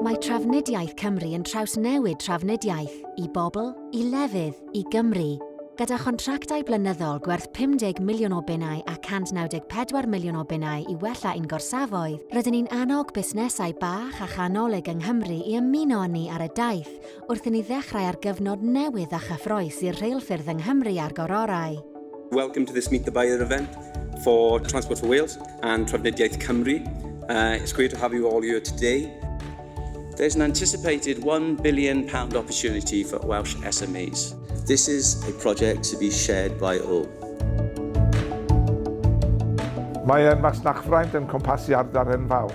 Mae Trafnidiaeth Cymru yn trawsnewid trafnidiaeth i bobl, i lefydd, i Gymru, gyda chontractau blynyddol gwerth 50 miliwn o bunnau a 194 miliwn o bunnau i wella ein gorsafoedd, rydyn ni'n annog busnesau bach a chanolig yng Nghymru i ymuno â ni ar y daith wrth i ni ddechrau ar gyfnod newydd a chyffrous i'r rheilffyrdd yng Nghymru a'r Gororau. Welcome to this Meet the Buyer event for Transport for Wales and Trafnidiaeth Cymru. Uh, it's great to have you all here today. There's an anticipated £1 billion opportunity for Welsh SMEs. This is a project to be shared by all. Mae masnachfraint yn cwmpasu ardal enfawr.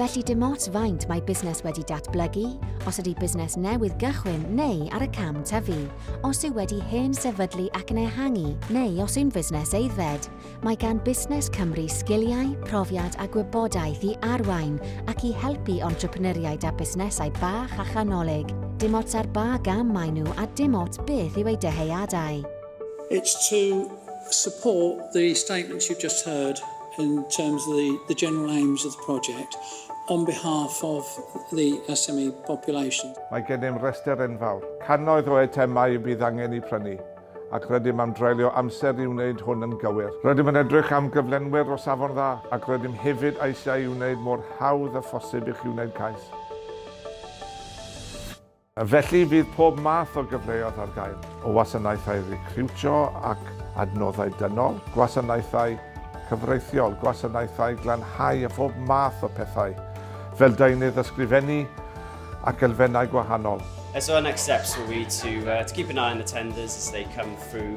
Felly dim ots faint mae busnes wedi datblygu, os ydy busnes newydd gychwyn neu ar y cam tyfu, os yw wedi hen sefydlu ac yn ehangu neu os yw'n fusnes aeddfed, mae gan Busnes Cymru sgiliau, profiad a gwybodaeth i arwain ac i helpu entrepreneuriaid a busnesau bach a chanolig, dim ots ar ba gam maen nhw a dim ots beth yw eu dyheadau. It's to support the statements you've just heard. in terms of the the general aims of the project on behalf of the SME population. Mae gennym restr enfawr. Cannoedd o eitemau y bydd angen eu prynu, ac rydym am dreulio amser i wneud hwn yn gywir. Rydym yn edrych am gyflenwyr o safon dda, ac rydym hefyd eisiau ei wneud mor hawdd â phosib i chi wneud cais. Felly, bydd pob math o gyfleoedd ar gael, o wasanaethau recriwtio ac adnoddau dynol, gwasanaethau cyfreithiol, gwasanaethau glanhau a phob math o pethau fel deunydd ysgrifennu ac elfennau gwahanol. So our next steps will be to keep an eye on the tenders as they come through.